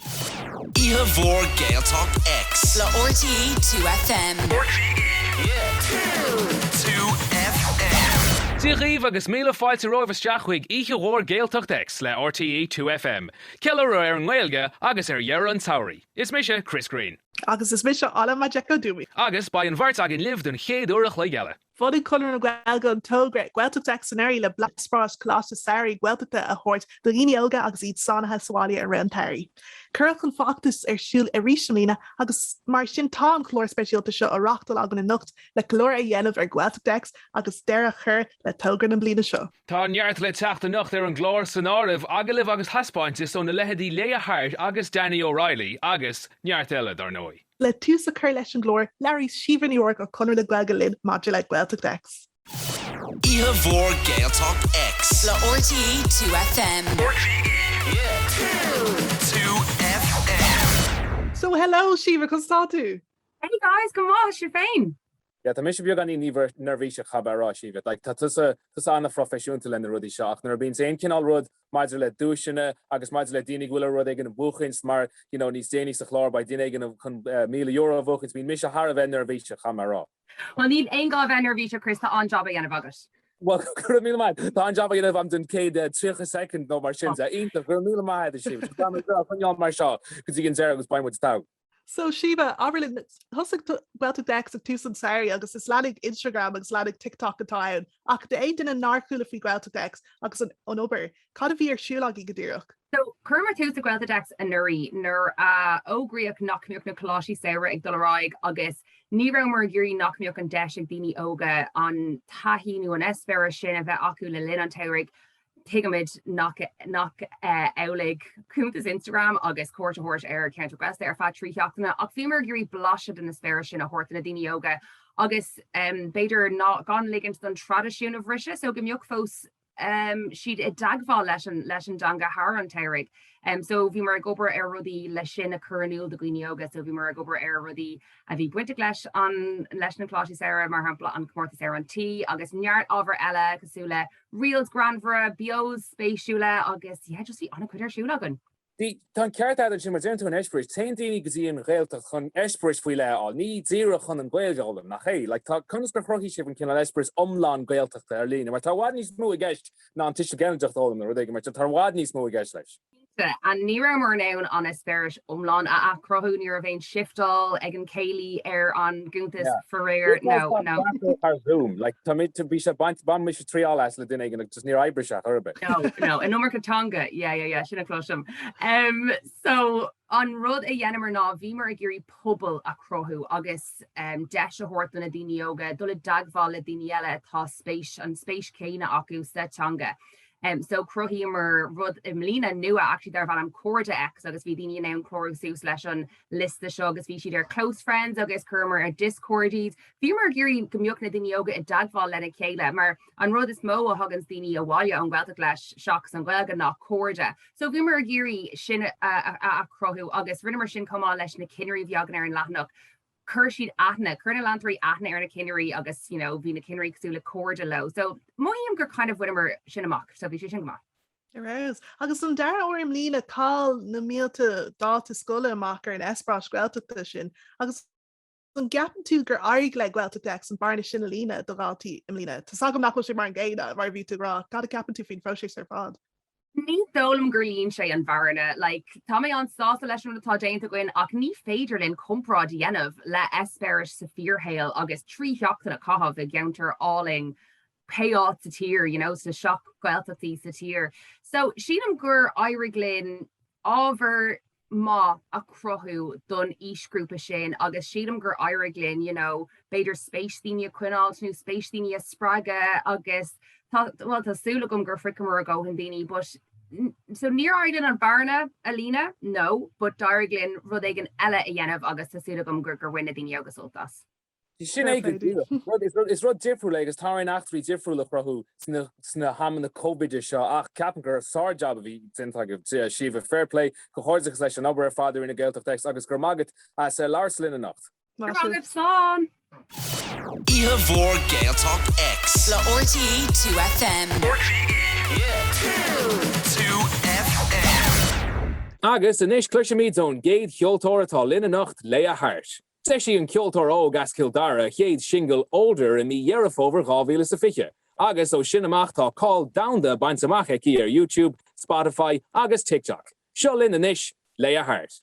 Oíche Mhór Gaeltacht X. Le RTÉ 2FM. RTÉ 2FM. Dia dhaoibh agus míle fáilte romhaibh isteach chuig Oíche Mhór Gaeltacht X le RTÉ 2FM. Ceiliúradh ar an nGaeilge agus ar dheireadh an tsamhraidh. Is mise Chris Greene. Agus is mise Ola Majekodunmi. Agus beidh an bheirt againn libh don chéad uair a chloig eile. Bhunaigh Conradh na Gaeilge an togra, Gaeltacht X anuraidh le blaiseadh de spás coláiste samhraidh Gaeltachta a thabhairt do dhaoine óga agus iad sáinnithe sa bhaile i rith an tsamhraidh. Cuireadh an feachtas ar siúl arís i mbliana agus mar sin tá an clár speisialta seo á reáchtáil againn anocht le ceiliúradh a dhéanamh ar Gaeltacht X agus deireadh a chur le togra na bliana seo. Tá neart le teacht anocht ar an gclár, san áireamh agallaimh agus taispeántais ó na leithéidí Lea Heart agus Danny O'Reilly agus neart eile, dar ndóigh. le tús a chur leis an gclár, labhróidh Síomha Ní Ruairc ó Chonradh na Gaeilge linn maidir le Gaeltacht X. Oíche Mhór Gaeltacht X le RTÉ 2FM. RTÉ 2FM. So hello Síomha, conas tá tú? Hey guys, go maith, sibh féin? Yeah, tá mise beagáinín neirbhíseach caithfidh mé a rá, a Shíomha. Like, tá tusa, tusa an-phroifeisiúnta le na rudaí seo ach nuair a bíonn sé aon cineál rud maidir le duaiseanna agus maidir le daoine go bhfuil rud éigin a bhuachaint mar, you know, níos déanaí sa chlár beidh duine éigin chun míle euro a bhuachaint, bíonn mise thar a bheith neirbhíseach, caithfidh mé a rá. Bhuel, níl aon gá a bheith neirbhíseach, Chris, tá an-jab á dhéanamh agat. Bhuel, go raibh míle maith. Tá an-jab á dhéanamh agam don chéad tríocha soicind nó mar sin de. Iontach, go raibh míle maith agat, a Shíomha. Caithfidh mé a rá coinneáil mar seo go dtí an deireadh agus beidh muid togha. So Síomha, abair linn, thosaigh Gaeltacht X ag tús an tsamhraidh agus is leathanach Instagram agus leathanach TikTok atá ann, ach d'aon duine nár chuala faoi Gaeltacht X agus an obair, cad a bhí ar siúl agaibh go díreach? So chuireamar tús le Gaeltacht X anuraidh nuair a fógraíodh nach mbeadh na coláistí samhraidh ag dul ar aghaidh agus ní rabhamar ag iarraidh nach mbeadh an deis ag daoine óga an taithí nó an eispéireas sin a bheith acu le linn an tsamhraidh Tuigimid nach amhlaidh cuntas Instagram agus cuairt a thabhairt ar cheantar Gaeltachta ar feadh trí sheachtaine ach bhíomar ag iarraidh blaiseadh den eispéireas sin a thabhairt do na daoine óga agus b'fhéidir gan ligint don traidisiún a bhriseadh so go mbeadh fós siad i dteagmháil leis an dteanga thar an tsamhraidh. So bhíomar ag obair ar rudaí leis sin a chur in iúl do dhaoine óga, so bhíomar ag obair ar rudaí a bhí bainteach leis na coláistí samhraidh, mar shampla an Comórtas Amhrán Tí agus neart ábhar eile cosúil le Reels greannmhara, físeáin spéisiúla agus yeah, just bhí an-chuid ar siúl againn. Tá an ceart agat ansin mar deireann tú an eispéiris, téann daoine go dtí an Ghaeltacht chun eispéiris faoi leith a fháil, ní díreach chun an Ghaeilge a fhoghlaim, nach ea? Like, tá conas gur chruthaigh sibh an cineál eispéiris iomlán Gaeltachta ar líne, mar tá i bhfad níos mó i gceist ná an tuiseal ginideach a fhoghlaim nó rud éigin mar sin, tá i bhfad níos mó i gceist leis. Cinnte, ní raibh muid in ann an eispéireas iomlán a athchruthú, ní raibh aon shifteáil ag an céilí ar an gcuntas faraor, nó. It was like babhtáil thar Zoom, like tá muid, bhí sé, bhain muid triáil as le duine éigin agus just níor oibrigh sé ach ar a bith. No, no, an iomarca teanga, yeah, yeah, yeah, sin a chloisim. So, an rud a rinneamar ná bhíomar ag iarraidh pobal a chruthú agus deis a thabhairt do na daoine óga dul i dteagmháil le daoine eile atá spéis, an spéis chéanna acu sa teanga. So chruthaíomar rud i mbliana nua actually darb ainm Cairde X agus bhí daoine in ann clárú suas leis an liosta seo agus bhí siad ar close friends agus chuireamar ar Discord iad. Bhíomar ag iarraidh go mbeadh na daoine óga i dteagmháil lena chéile mar an rud is mó a thuganns daoine abhaile ón Ghaeltacht leis seachas an Ghaeilge ná cairde. So bhíomar ag iarraidh sin a chruthú agus rinneamar sin chomh maith leis na cinnirí a bhí againn ar an leathanach. chuir siad aithne, chuir na leantóirí aithne ar na cinnirí agus you know bhí na cinnirí cosúil le cairde leo. So mothaím gur kind of bhaineamar sin amach. So bhí sé sin go maith. Ar fheabhas. Agus an dara uair i mbliana chaill na mílte dalta scoile amach ar an eispéireas Gaeltachta sin agus an gceapann tú gur éirigh le Gaeltacht X an bearna sin a líonadh do dhaltaí i mbliana? Tá's agam nach bhfuil sé mar an gcéanna mar a bhí tú ag rá. Cad a cheapann tú faoin phróiseas ar fad? Ní dóigh liom gur líon sé an bhearna. Like, tá mé an-sásta leis an rud atá déanta againn ach ní féidir linn comparáid a dhéanamh le heispéireas sa fíorshaol agus trí seachtaine a chaitheamh i gceantar álainn pé áit sa tír, you know, sna seacht Gaeltachtaí sa tír. So, sílim gur éirigh linn ábhar maith a chruthú don aoisghrúpa sin agus sílim gur éirigh linn, you know, b'fhéidir spéis daoine a choinneáilt nó spéis daoine a spreagadh agus tá, bhuel, tá súil agam gur shroicheamar go dóthain daoine but so níor éirigh linn an bearna a líonadh, no, but d'éirigh linn rud éigin eile a dhéanamh agus tá súil agam gur gur bhain na daoine óga sult as. Sin é go díreach. Is rud difriúil é agus tá orainn eachtraí difriúla a chruthú sna hamanna Covid seo ach ceapaim gur sár-jab a bhí déanta agaibh, Síomha. Fair play. Comhghairdeachas leis an obair ar fad a rinne Gaeltacht X agus go raibh maith agat as labhairt linn anocht. Go raibh maith agat. Slán. Oíche Mhór Gaeltacht X le RTÉ 2FM. RTÉ 2FM. Agus anois cloisimid ón gcéad cheoltóir atá linn anocht, Lea Heart. D'eisigh an ceoltóir óg as Cill Dara a chéad singil 'Older' i mí Dheireadh Fómhair 2020 agus ó sin amach tá cáil domhanda bainte amach aici ar YouTube, Spotify agus TikTok. Seo linn anois Lea Heart.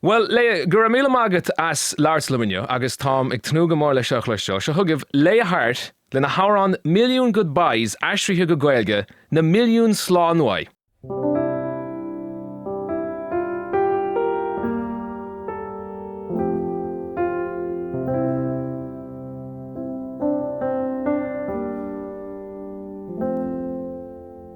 Bhuel, Lea, go raibh míle maith agat as labhairt liom inniu agus táim ag tnúth go mór le seo a chloisteáil. Seo chugaibh Lea Heart lena hamhrán 'Milliún Goodbyes' aistrithe go Gaeilge, Na Milliún Slán Uaidh.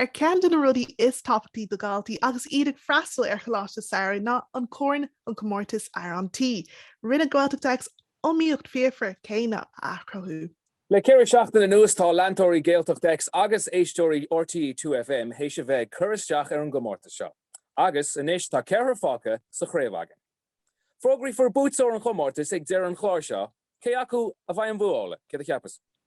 Ar cheann de na rudaí is tábhachtaí do dhaltaí agus iad ag freastal ar choláiste samhraidh ná an Corn an Comórtas Amhrán Tí. Rinne Gaeltacht X iomaíocht fhíochmhar chéanna a athchruthú. Le ceithre seachtainí anuas, tá leantóirí Gaeltacht X agus éisteoirí RTÉ Two FM théis a bheith ag cur isteach ar an gcomórtas seo agus anois tá ceathrar fágtha sa chraobh againn. Fógrófar buaiteoir an chomórtais ag deireadh an chláir seo, cé aige a bheidh an bua, Ola, céard a cheapas?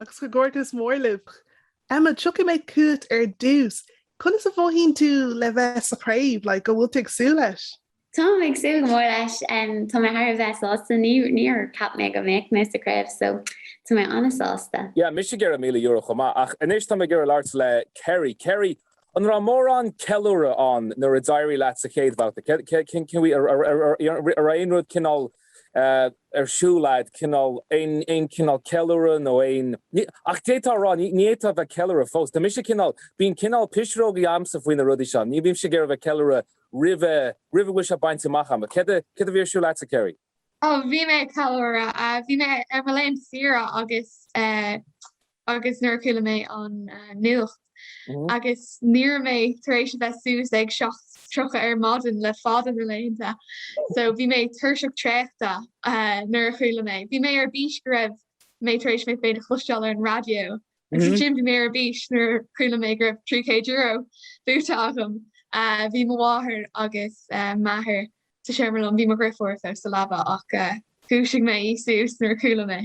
Agus comhghairdeas mór libh. Emma, tiocfaidh mé chugat ar dtús. Conas a mhothaíonn tú le bheith sa chraobh, like, an bhfuil tú ag súil leis? Táim ag súil go mór leis. Tá mé thar a bheith sásta. Ní, níor cheap mé go mbeadh mé sa chraobh so tá mé an-sásta. Yeah, mise ag iarraidh míle euro chomh maith ach anois táim ag iarraidh labhairt le Kerry. Kerry, An raibh mórán ceiliúradh ann nuair a d'éirigh leat sa chéad bhabhta? An raibh aon rud cineál ar siúl agat, cineál, aon chineál ceiliúradh nó aon, ach d'fhéadfá a rá nach bhféadfá a bheith ag ceiliúradh fós. Tá mise cineál, bíonn cineál pisreogaí agamsa faoi na rudaí seo, ní bhímse ag iarraidh a bheith ag ceiliúradh roimh roimh go bhfuil sé bainte amach agam. Céard a céard a bhí ar siúl agatsa Kerry? Ó, bhí mé ag ceiliúradh, bhí mé ar mo laethanta saoire agus eh, agus nuair a chuala mé an nuacht agus ní raibh mé tar éis a bheith suas ag 7:30 ar maidin le fada na laethanta so bhí mé tuirseach traochta nuair a chuala mé. Bhí mé ar bís go raibh mé tar éis mé féin a chloisteáil ar an raidió agus ansin bhí mé ar bís nuair a chuala mé go raibh €300 buaite agam. Bhí mo mháthair agus m'athair sa seomra liom, bhí mo dhriofúr fós sa leaba ach dhúisigh mé í suas nuair a chuala mé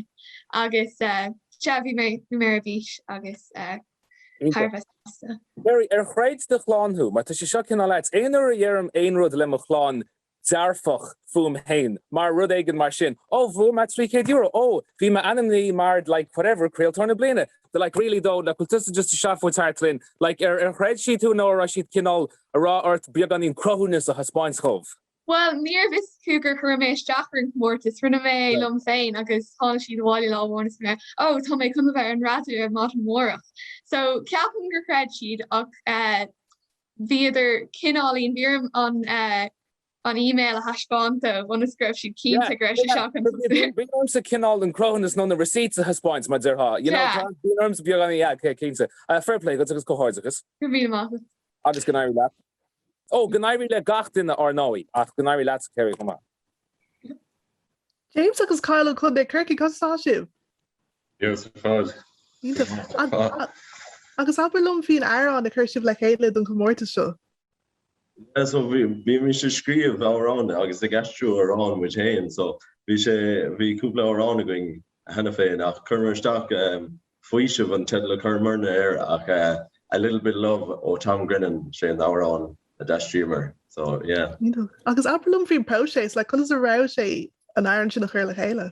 agus sea, bhí mé bhí mé ar bís agus thar a bheith sásta. Mary, ar chreid do chlann thú? Mar tá sé seo cineál ait, aon uair a dheirim aon rud le mo chlann dearfach fúm féin, mar rud éigin mar sin, ó bhuaigh mé trí chéad euro, ó bhí mé ainmnithe mar like whatever craoltóir na bliana, they're like really though, nach bhfuil tusa just ag seafóid thart linn, like ar chreid siad thú nó an raibh siad cineál a rá ort beagáinín cruthúnas a thaispeáint dhóibh. Bhuel, níorbh fhios acu gur chuir mé isteach ar an chomórtas, rinne mé é liom féin agus tháinig siad abhaile lá amháin is mé like ó tá mé chun a bheith ar an raidió ar maidin amárach. So ceapaim gur chreid siad ach bhíodar cineáilín, bhí orm an eh, an email a thaispeáint dóibh ionas go raibh siad cinnte go raibh sé seo chun tarlú. Bíonn ormsa cineál an cruthúnas nó na receipts a thaispeáint, mar a déarfá. You know, tá, bíonn ormsa beagán yeah, ok, cinnte. Fair play agat agus comhghairdeachas. Go raibh míle maith agat. Agus go n-éirí leat. Ó, go n-éirí le gach duine, ar ndóigh, ach go n-éirí leatsa, Kerry, chomh maith. James agus Kyle ó Contae Chorcaí, conas atá sibh? Thar barr ar fad. Iontach. Agus abair liom faoin amhrán a chuir sibh le chéile don chomórtas seo. Bhuel so bhí bhí mise ag scríobh amhrán agus ag aistriú amhrán dúinn féin so bhí sé bhí cúpla amhrán againn cheana féin ach chuireamar isteach ehm Faoiseamh an teideal a chuireamarna air ach eh A Little Bit of Love ó Tom Grennan sé an amhrán a d'aistríomar so yeah. Iontach. Agus abair liom faoin bpróiseas, like conas a raibh sé an amhrán sin a chur le chéile?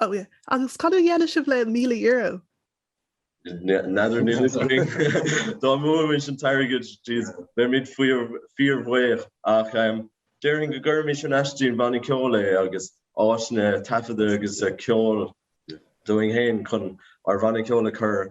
Oh yeah. Agus cad a dhéanadh sibh le míle euro? N'fheadar, níl fhios againn. Dá mbuaimis an t-airgead, jeez, beimid fíorbhuíoch. Ach déarfainn go gcuirfimis in uirlisí banna ceoil é agus áiseanna taifeadta agus ceoil dúinn féin chun ár bhanna ceoil a chur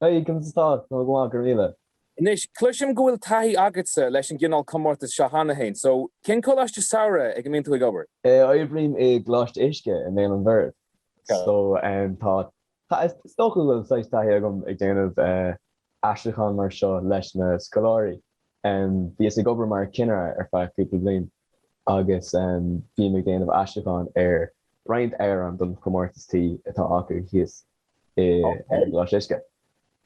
Seán conas atá cúrsaí go maith go raibh míle. Anois, cloisim go bhfuil taithí agatsa leis an gcineál comórtais seo cheana féin, so cén Coláiste Samhraidh ag a mbíonn tú ag obair? Oibrím i gColáiste Uisce i mBéal an Mhuirthead, so tá, tá, is dócha go bhfuil saghas taithí agam ag déanamh aistriúchán mar seo leis na scoláirí. Bhíos ag obair mar chinnire ar feadh cúpla bliain. agus bím ag déanamh aistriúcháin ar roinnt amhrán don chomórtas tí atá acu thíos i gColáiste Uisce.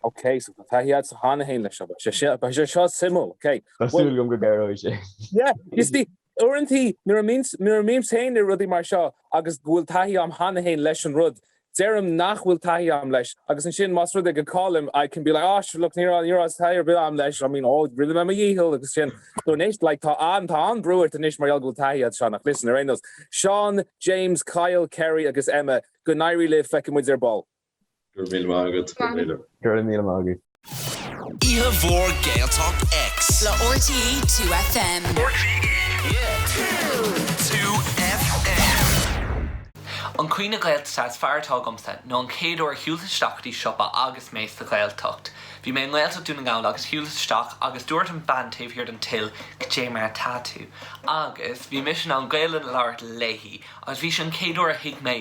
Ok, so tá taithí a'dsa cheana fhéin leis seo, tá sé seo, tá sé seo suimiúil, ok. Tá súil agam go gcabhróidh sé. Yeah, you see, uaireantaí nuair a mbímse, nuair a mbímse fhéin i rudaí mar seo agus go bhfuil taithí a'm cheana fhéin leis an rud, deirim nach bhfuil taithí agam leis agus ansin más rud é go gcaillim I can be like ah sure look ní raibh ní raibh taithí ar bith agam leis I mean ó rinne mé mo dhícheall agus sin so anois like tá an tá an brú ort anois mar gheall go bhfuil taithí agat Seán ach listen ar aon nós Seán James Kyle Kerry agus Emma go n-éirí libh feicfidh muid ar ball Go raibh míle maith agat. Go raibh míle maith agat. Oíche Mhór Gaeltacht X. Le RTE 2FM. RTE 2FM. An chuimhne Ghaeltachta is fearr atá agamsa ná an chéad uair a shiúlas isteach go dtí siopa agus mé sa Ghaeltacht. Bhí mé i nGaeltacht Dhún na nGall agus shiúlas isteach agus dúirt an bhean taobh thiar den till 'goidé mar atá tú? agus bhí mise in ann Gaolainn a labhairt léi agus bhí sé an chéad uair a thuig mé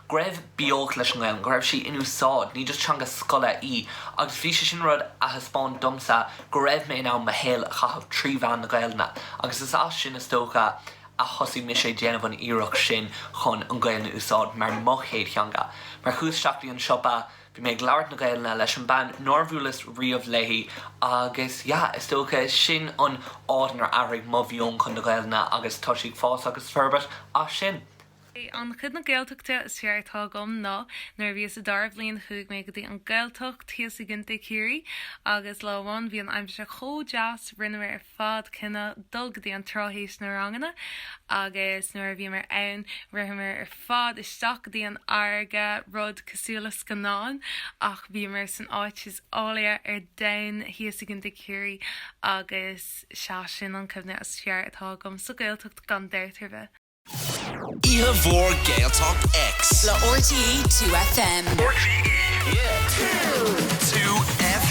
go raibh beocht leis an nGaelainn, go raibh sí in úsáid, ní just teanga scoile í agus bhí sé sin rud a thaispeáin domsa go raibh mé in ann mo shaol a chaitheamh trí mheán na Gaelainne agus is as sin, is dócha, a thosaigh mise ag déanamh an iarracht sin chun an Ghaelainn a úsáid mar mo chéad theanga. Mar chuas isteach go dtí an siopa, bhí mé ag labhairt na Gaelainne leis an bean nár bhuaileas riamh léi agus, yeah, is dócha, sin an áit inar athraigh mo mheon chun na Gaelainne agus tá sí ag fás agus forbairt as sin. An chuimhne Gaeltachta is fearr atá agam ná nuair a bhíos sa dara bhliain chuaigh mé go dtí an Ghaeltacht thíos i gContae Chiarraí agus lá amháin bhí an aimsir chomh deas rinneamar ar fad cinneadh dul go dtí an trá théis na ranganna agus nuair a bhíomar ann ritheamar ar fad isteach go dtí an fharraige rud cosúil le scannán ach bhíomar san áit is áille ar domhan thíos i gContae Chiarraí agus sea sin an chuimhne is fearr atá agam sa Ghaeltacht gan dabht ar bith. Oíche Mhór Gaeltacht X. Le RTÉ 2FM. RTÉ 2FM.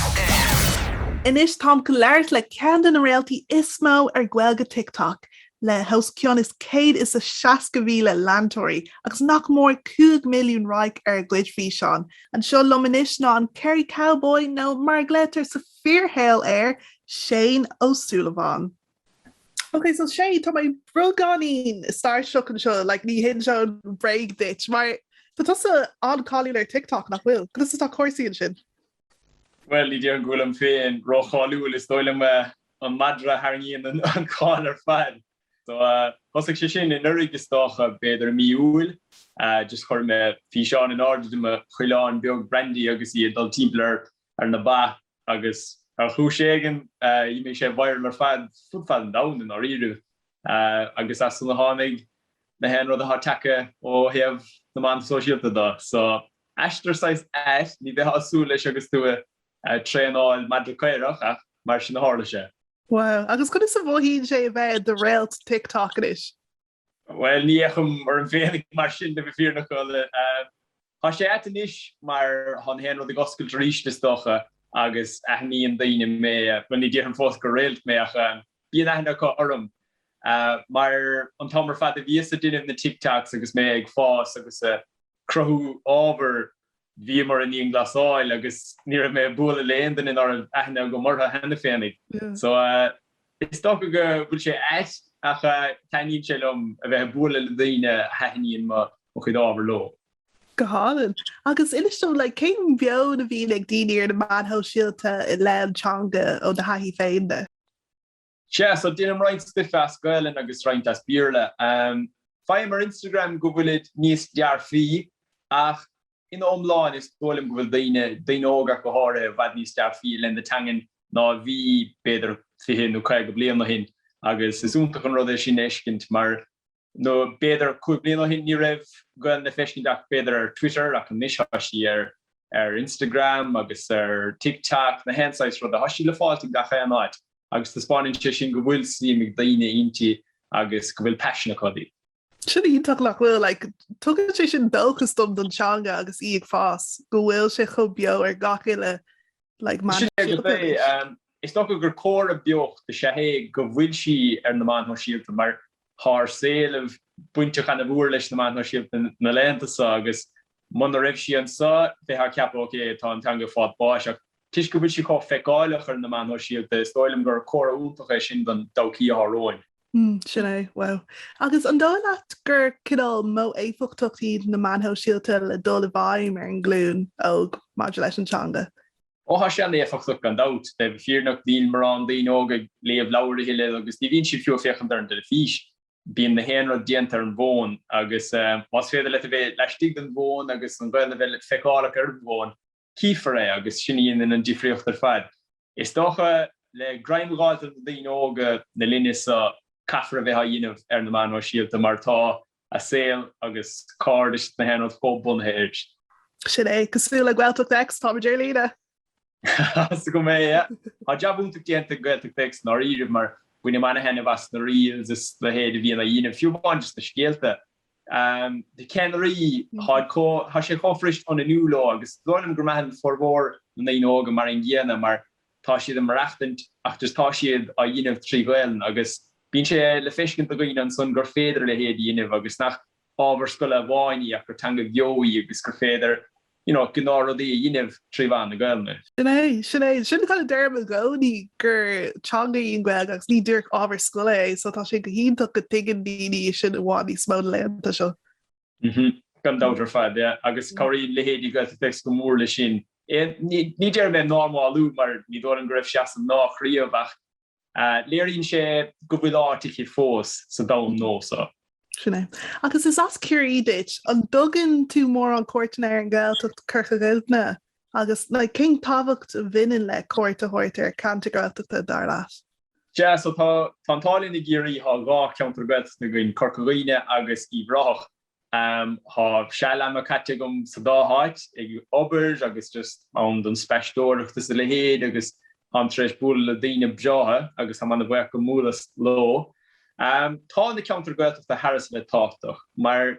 Anois táim ag labhairt le ceann de na réaltaí is mó ar Gaeilge TikTok, le os cionn 160,000 leantóirí agus nach mór 5 milliún radharc ar a gcuid físeán. Anseo liom anois ná an Kerry Cowboy nó mar a glaoitear sa fíorshaol air, Shane O'Sullivan. Ok so Shay, tá mé beagáinín starstruck anseo, like ní hé seo aon bhréag duit, mar tá tusa an-cáiliúil ar TikTok, nach bhfuil? Conas atá cúrsaí ansin? Bhuel, ní déarfainn go bhfuilim féin ró-cháiliúil, is dóigh liom an madra a tharraingíonn an cháil ar fad. So thosaigh sé sin anuraidh is dócha, b'fhéidir i mí Iúil, just chuir mé físeán in airde de mo choileán beag Brandy agus í ag dul timpeall ar ar na ba agus ar chúis éigin d'imigh sé viral ar fad, fud fad an domhain i ndáiríre, agus as san a tháinig gach aon rud atá tagtha ó thaobh na meán sóisialta de. So, aisteach saghas ait, ní bheifeá ag súil leis agus tú ag traenáil madra caorach ach mar sin a tharla sé. Wow, agus conas a mhothaíonn sé a bheith i do réalt TikTok anois? Bhuel, ní fhéachaim orm féinig mar sin, le bheith fírinneach. Tá sé ait anois mar tá gach aon rud ag oscailt arís, is dócha, agus aithníonn daoine mé. Bhuel, ní déarfainn fós gur réalt mé ach bíonn aithne acu orm mar an t-am ar fad a bhíos ag déanamh na TikToks agus mé ag fás agus ag cruthú ábhar Bhíomar i ndianghlasáil agus ní raibh mé ag bualadh le aon duine ná raibh aithne agam orthu cheana féinig so is dócha go bhfuil sé ait ach taitníonn sé liom a bheith ag bualadh le daoine a dtaitníonn mo chuid ábhar leo. Go hálainn. Agus inis dom, like, cén meon a bhíonn ag daoine ar na meáin shóisialta i leith an teanga ó do thaithí féin de? Sea, so deinim roinnt stuife as Gaelainn agus roinnt as Béarla. Faighim ar Instagram go bhfuilid níos dearfaí ach ina iomláine is dóigh liom go bhfuil daoine, daoine óga go háirithe, i bhfad níos dearfaí leis an dteangain ná a bhí b'fhéidir 20 nó 50 bliain ó shin agus is iontach an rud é sin a fheiscint mar nó b'fhéidir cúig bliana ó shin, ní raibh Gaelainn le feiscint ach b'fhéidir ar Twitter ach anois tá sí ar ar Instagram agus ar TikTok, nach aon saghas ruda, tá sí le fáilt in gach aon áit agus taispeáineann sé sin go bhfuil suim ag daoine inti agus go bhfuil paisean acu di. Sin iontach nach bhfuil le tugann sé sin dóchas dom don teanga agus í ag fás go bhfuil sé chomh beo ar gach aon leibhéal is dóigh liom gur comhartha beocht di é go bhfuil sí ar na meáin shóisialta mar thá ár saol bainteach ana mhór leis na meáin shóisialta na laethanta seo agus muna raibh sí anseo bheifí ag ceapadh ok tá an teanga ag fáilt bháis ach toisc go bhfuil sí chomh feiceáileach ar na meáin shóisialta is dóigh liom gur comhartha iontach é sin don dtodhchaí athá romhainn. Hmm, sin é, wow. Agus an dóigh leat gur cineál modh éifeachtach iad na meáin shóisialta le dul i bhfeidhm ar an nglúin óg maidir leis an teanga? Ó thá sé an éifeachtach gan dabht. Le fírinneacht níl mórán daoine óga ag léamh leabhar a thuilleadh agus ní bhíonn siad fiú ag féachaint ar an dteilifís. Bíonn nach aon rud déanta ar an bhfón agus más féidir leat a bheith laistigh den bhfón agus an Ghaelainn a bheith feiceálach ar an bhfón chífear é agus sin a dheineann an difríocht ar fad is dócha. Le greim a dh'fháilt ar daoine óga na linne seo caithfear a bheith á dhéanamh ar na meáin shóisialta mar tá. a saoil agus cairdeas is nach aon rud chomh bunaithe air. Sin é. Cosúil le Gaeltacht-X, táimid ar líne. Ós go, yeah, yeah. Tá jab iontach déanta ag Gaeltacht-X i ndáiríribh mar bainim ana-thaitneamh as na reels is a leithéid a bhíonn á dhéanamh, fiú amháin just na scéalta. na ceannairí, tá ag có, tá sé chomh fuirist ionannú leo agus is dóigh liom go mbraitheann formhór na ndaoine óga mar an gcéanna mar tá siad ag maireachtaint ach just tá siad á dhéanamh trí Ghaelainn agus bíonn sé le feiscint do dhaoine ansan gur féidir a leithéid a dhéanamh agus nach ábhar scoile amháin í ach gur teanga bheo í agus gur féidir you know gnáth rudaí a dhéanamh trí mheán na Gaelainne. Sin é, sin é, sin a deirim i gcónaí gur teanga í an Ghaeilge agus ní díreach ábhar scoile é, so tá sé go hiontach go dtuigeann daoine sin i bhfad níos mó na laethanta seo. Gan dabht ar fad, agus cabhraíonn leithéidí Gaeltacht-X go mór leis sin. Ní déarfaidh mé é a normálú mar ní dóigh liom go raibh sé as an ngnáth riamh ach léiríonn sé go bhfuil áit aici fós sa domhan nua so. Sin é. Agus is as Ciarraí duit, an dtugann tú mórán cuairteanna ar an Ghaeltacht, Corca Dhuibhne? Agus cén tábhacht a bhaineann le cuairt a thabhairt ar cheantar Gaeltachta, dar leat? Sea, so tá an t-ádh linn i gCiarraí, tá dhá cheantar Gaeltachta againn, Corca Dhuibhne agus Uíbh Ráthach. Tá seal ama caite agam sa dá háit, ag obair agus just ann don spaisteoireacht is a leithéid agus táim tar éis bualadh le daoine breátha agus táim an-bhuíoch go mbualas leo. Tá na ceantair Gaeltachta thar a bheith tábhachtach mar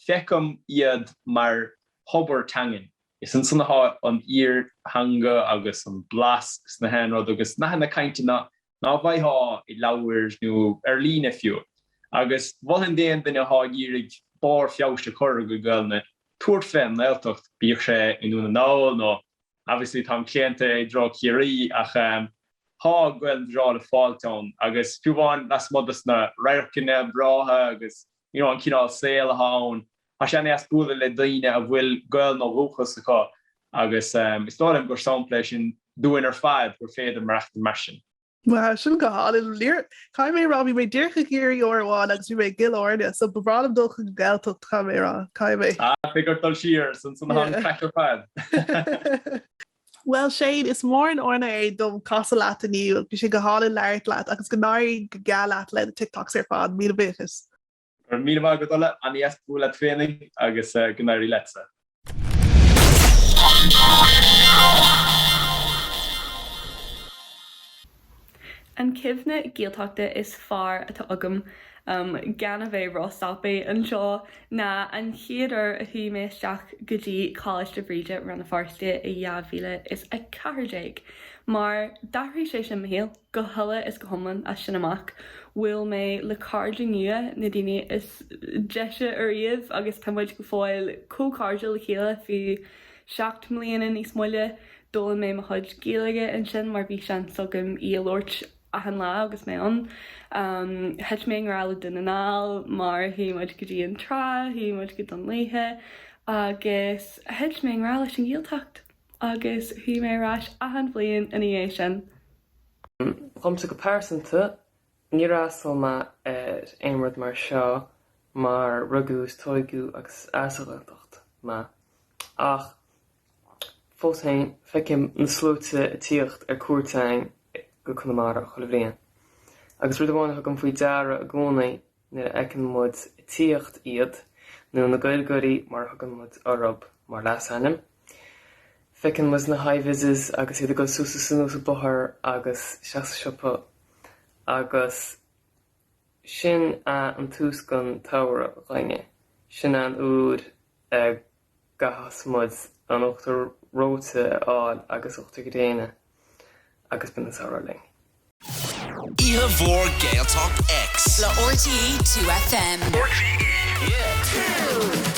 feicim iad mar thobar teangan. Is ansan atá an fhíortheanga agus an blas 's gach aon rud agus nathanna cainte ná bhfaightheá i leabhair nó ar líne fiú. Agus mholfainn d'aon duine atá ag iarraidh barr feabhais a chur ar do Ghaelainn tabhairt fé an nGaeltacht, bíodh sé i nDún na nGall nó obviously táim claonta i dtreo Chiarraí ach tá Gaelainn bhreá le fáilt ann agus fiú amháin lasmuigh dos na radharcanna breátha agus you know an cineál saol atá ann. Tá sé an-deas bualadh le daoine a bhfuil Gaelainn ó dhúchas acu agus is dóigh liom gur sampla é sin dúinn ar fad gur féidir maireachtaint mar sin. Bhuel, sin go hálainn. Caithfidh mé a rá, bhí mé díreach i gCiarraí uair amháin agus bhí mé i gCill Airne, so ba bhreá liom dul chun Gaeltacht, caithfidh mé a rá. Caithfidh mé. Ah, b'fhearr dhuit dul siar, is ansan atá an chraic ar fad. Bhuel, Shane, is mór an onóir é dom casadh leat inniu agus bhí sé go hálainn labhairt leat agus go n-éirí go geal leat le do TikToks ar fad. Míle buíochas. Go raibh míle maith agat Ola, an-dheas bualadh leat féinig agus go n-éirí leatsa. An cuimhne Gaeltachta is fearr atá agam, gan a bheith ró-sappy anseo, ná an chéad uair a chuaigh mé isteach go dtí Coláiste Bhríde, Rann na Feirste i 2014, mar d'athraigh sé sin mo shaol. Go huile is go hiomlán as sin amach, bhuail mé le cairde nua, na daoine is deise ariamh agus tá muid go fóill cairdiúil le chéile fiú seacht mbliana níos moille. D'fhoghlaim mé mo chuid Gaeilge ansin mar bhí seans agam í a labhairt achan lá agus mé ann. Thit mé i ngrá le Dún na nGall mar chuaigh muid go dtí an trá, chuaigh muid go Dún Lúiche agus thit mé i ngrá leis an Ghaeltacht. agus chuaigh mé ar ais achan bhliain ina dhiaidh sin. Dhomsa go pearsanta, níor fhreastail mé ar aon rud mar seo mar rugadh is tóigeadh agus is as an Ghaeltacht mé, ach fós féin, feicim na sluaite ag tíocht ar cuairt a'ainn go Conamara chuile bhliain, agus rud amháin a thugaim faoi deara i gcónaí nuair a fheiceann muid ag tíocht iad nú na Gaeilgeoirí mar a thugann muid orthub mar leasainm. Feiceann muid na 'high vises' agus iad ag dul suas is anuas an bóthar agus isteach sa siopa agus sin é an tús gon tsamhradh dhúinne. Sin é an uair a. gcaithfimid an uachtar reoite a fháil agus uachtar gréine agus bíonn an samhradh linn. Oíche Mhór Gaeltacht X. Le RTÉ 2FM. RTÉ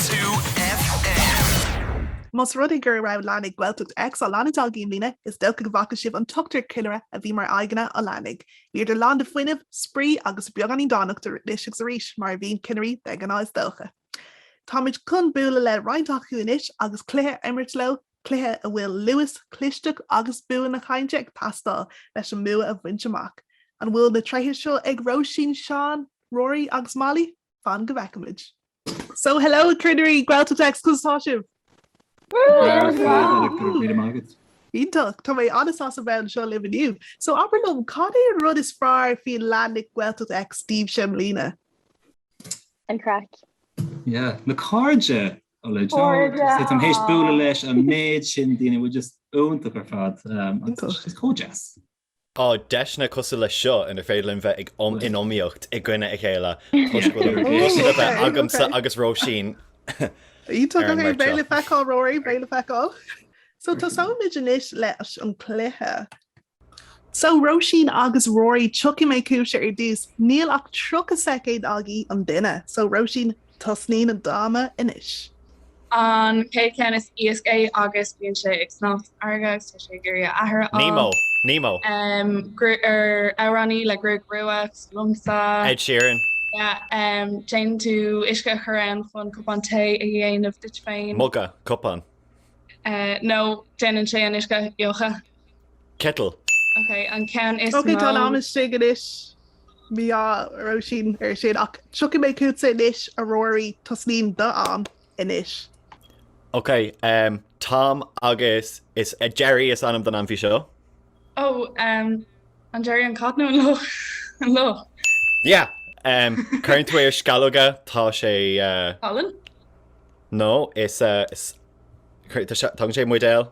2FM. Más rud é gur raibh leathanaigh Gaeltacht X á leanúint agaibh i mbliana, is dócha go bhfaca sibh an t-ochtar cinnire a bhí mar aghaidheanna an leathanaigh. Bhíodar lán de fuinneamh, spraoi agus beagáinín dánacht anois agus arís, mar a bhíonn cinnirí de ghnáth is dócha. Táimid chun bualadh le roinnt acu anois agus cluiche a imirt leo, cluiche a bhfuil luas, clisteacht agus bua na cainte ag teastáil leis an mbua a bhaint amach. An bhfuil na tréithe seo ag Róisín, Seán, Ruairí agus Molly? Fan go bhfeicfimid. So hello cinnirí Gaeltacht X conas atá sibh? Iontach! Tá mé an-sásta bheith anseo libh inniu. So abair liom, cad é an rud is fearr faoi leathanaigh Gaeltacht X daoibhse i mbliana? An craic. Yeah, na cairde! Oh le Joe, so táim théis bualadh leis an méid sin daoine, bhfuil just iontach ar fad. Is chomh deas. Tá deiseanna cosúil leis seo inar féidir linn bheith ag in iomaíocht i gcoinne a chéile toisc go bhfuil an bua chun a bheith agamsa agus Róisín ar an mbeirt seo. Beidh le feiceáil, Rory, beidh le feiceáil. So, tosóimid anois leis an chluiche. So, Róisín agus Rory, tiocfaidh mé chugaibhse ar dtús. Níl ach 30 soicind agaibh an duine. So, Róisín. Tosnaíonn an t-am anois. an chéad cheann is iasc é agus bíonn sé ag snámh san fharraige agus tá sé ag iarraidh a athair a fháil. Nemo, Nemo. em, gr- er, amhránaí le gruaig rua, cosúil liomsa. Ed Sheeran. Yeah, em, déanann tú uisce a chur ann chun cupán tae a dhéanamh duit féin. Muga, cupán. Eh, no, déanann sé an uisce a fhiuchadh. Kettle. Ok, an ceann is mó. Ok, tá an am istigh anois. Mí-ádh, Róisín, ar sin, ach tiocfaidh mé chútsa anois, a Rory, tosnaíonn do am anois. Ok, em, Tom agus is Jerry is ainm don ainmhí seo. Oh, em, an Jerry an cat nó an luch? An luch. Yeah, em, cuireann tú é ar sceallóga, tá sé, eh. Salann? No, is, eh, is, cuir- tá sé, tagann sé i mbuidéal.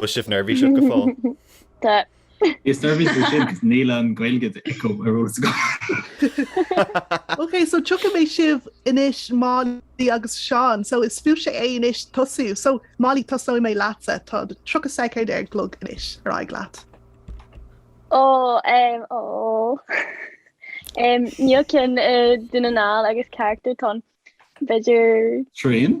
Bhfuil sibh neirbhíseach go fóill? Tá. Is neirbhíseach mé sin agus níl an Gaeilge acu ar eolas agam. Ok, so tiocfaidh mé sibh anois Molly agus Seán, so is fúibhse é anois tosú, so Molly tosóidh mé leatsa, tá 30 soicind ar an gclog anois, ar aghaidh leat. Ó, em, ó. Em, níl cionn eh, duine anall agus character ton. B'fhéidir, Trín?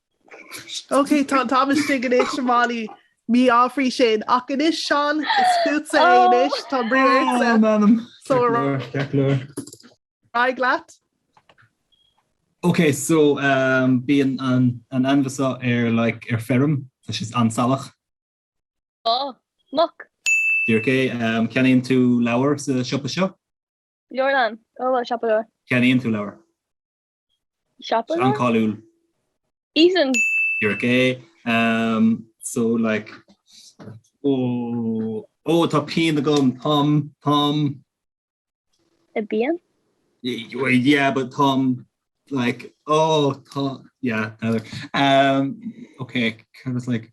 Ok, tá an t-am istigh anois, Molly. Mí-ádh faoi sin. Ach anois, Seán, is fútsa é anois, tá brú ortsa. Ó, m'anam. So ar aghaidh. Ceart go leor, ceart go leor. Ar aghaidh leat. Ok, so bíonn an t-ainmhí seo ar like ar feirm, tá sé an-salach. Á, muc. Díreach é. Ceannaíonn tú leabhair sa siopa seo. Leabharlann. Ó, bhuel, siopa leabhair. Ceannaíonn tú leabhair? Sean Seapalán? cáiliúil. Ethan? Díreach é. Um, so like ó ó tá pian agam Tom Tom I bpian? well, yeah but Tom like oh tá yeah another. um okay kind of like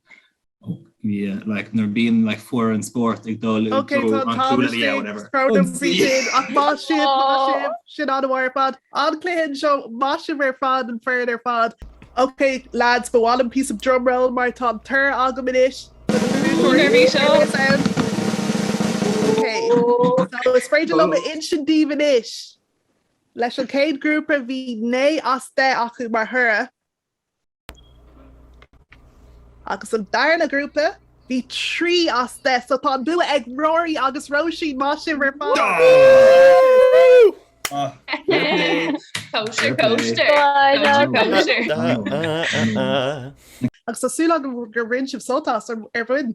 like nuair bíonn like fuair an spórt ag dul i Ok, dtreo tá an t-am cúile, yeah, stigh whatever. spóirt faoi sin ach maith sibh, maith Aw. sibh, sin an-mhaith ar fad. An cluiche seo, maith sibh ar fad, an foireann ar fad. Ok, lads, ba mhaith liom píosa drum roll mar tá an toradh agam anois. Ó, neirbhís Hear eo. this sound. Ok, so is féidir liom a insint daoibh anois. Leis an chéad ghrúpa bhí naoi as deich acu mar thoradh. Agus an darna grúpa, bhí trí as deich, so tá an bua ag Rory agus Róisín, maith sibh ar fad! Agus tá súil agam gur bhain sibh sult as ar bhonn.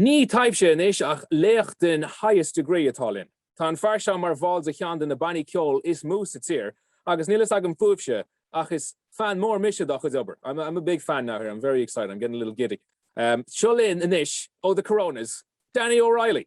Ní taibhse anois ach laoch den highest degree atá linn. Tá an fear seo mar bhall de cheann de na bannaí ceoil is mó sa tír agus níl a fhios agam fúibhse ach is fan mór mise dá chuid obair. I'm I'm a big fan now here, I'm very excited, I'm getting a little giddy. Seo linn anois ó The Coronas, Danny O'Reilly!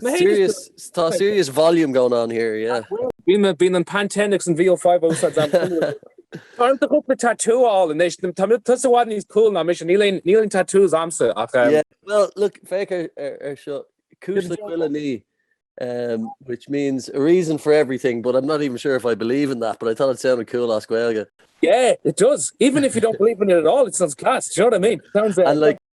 Tá serious volume going on here, yeah. Bíonn an Panthenix an V05 a úsáid am cumhachta. Táim de chúpla tattoo a fháil anois, tá mé tusa i bhfad níos cool ná mise, níl aon tattoos a'msa ach um. Yeah, well, look, féach ar seo, cúis le chuile ní, um, which means a reason for everything, but I'm not even sure if I believe in that, but I thought it sounded cool as Gaeilge. Yeah, it does, even if you don't believe in it at all, it sounds class, do you know what I mean? It sounds, uh, And like,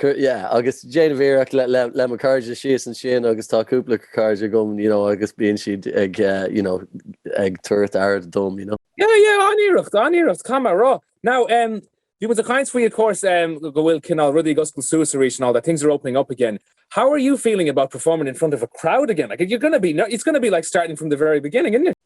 Cur, yeah, ag déanamh iarracht le, le, le mo chairde thíos ansin agus tá cúpla cairde agam, you know, agus bíonn siad ag, you know, ag tabhairt aire dom, you know. Yeah, yeah, an-iarracht, an-iarracht, caithfidh mé a rá. Now, um, bhí muid ag caint faoi, of course, um, go bhfuil cineál rudaí ag oscailt suas arís and all that, things are opening up again. How are you feeling about performing in front of a crowd again? Like, you're going to be, it's going to be like starting from the very beginning, isn't it?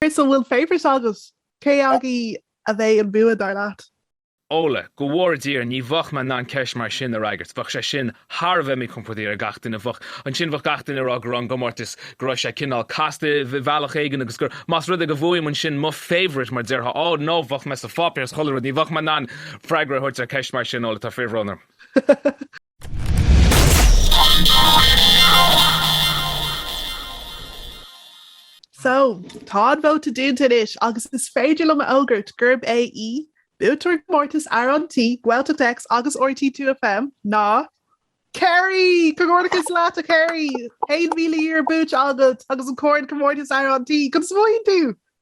Chris, an bhfuil favourite agat? Cé aige a bheidh an bua dar leat? Ola, Go bhfóire Dia, ní bheadh mé in ann ceist mar sin a fhreagairt. Bheadh sé sin thar a bheith mí-chompordach ar gach duine. Bheadh, ansin bheadh gach duine ag rá go raibh an comórtas, go raibh sé cineál casta ar bhealach éigin agus gur, más rud é go mbuann ansin mo favourite mar déarfá, ó no, bheadh mé sa pháipéar, 's chuile rud, ní bheadh mé in ann freagra a thabhairt ar cheist mar sin, Ola, tá fíorbhrón orm. So, tá an vóta dúnta anois agus is féidir liom a fhógairt gurb é, é, buaiteoir Comórtas Amhrán Tí, Gaeltacht X agus RTÉ2FM ná Kerry! Comhghairdeas leat a Kerry! 1000 Euro buaite agat agus an Corn Comórtas Amhrán Tí! Go maire tú!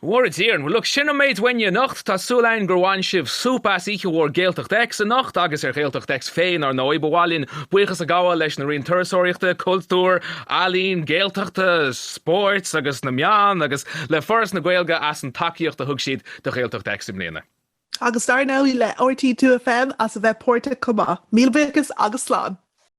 Mhór i dTír an Well look, sin an méid uainne anocht, tá súil againn gur bhain sibh súp as oíche mhór Gaeltacht X anocht agus ar Ghaeltacht X féin ár ndóigh, ba mhaith linn buíochas a ghabháil leis na Roinn Turasóireachta, Cultúir, Ealaíon, Gaeltachta, Spóirt agus na Meán agus le Foras na Gaeilge as an tacaíocht a thug siad do Ghaeltacht X i mbliana. Agus dar ndóigh le RTÉ 2FM as a bheith páirteach chomh maith. Míle buíochas agus slán!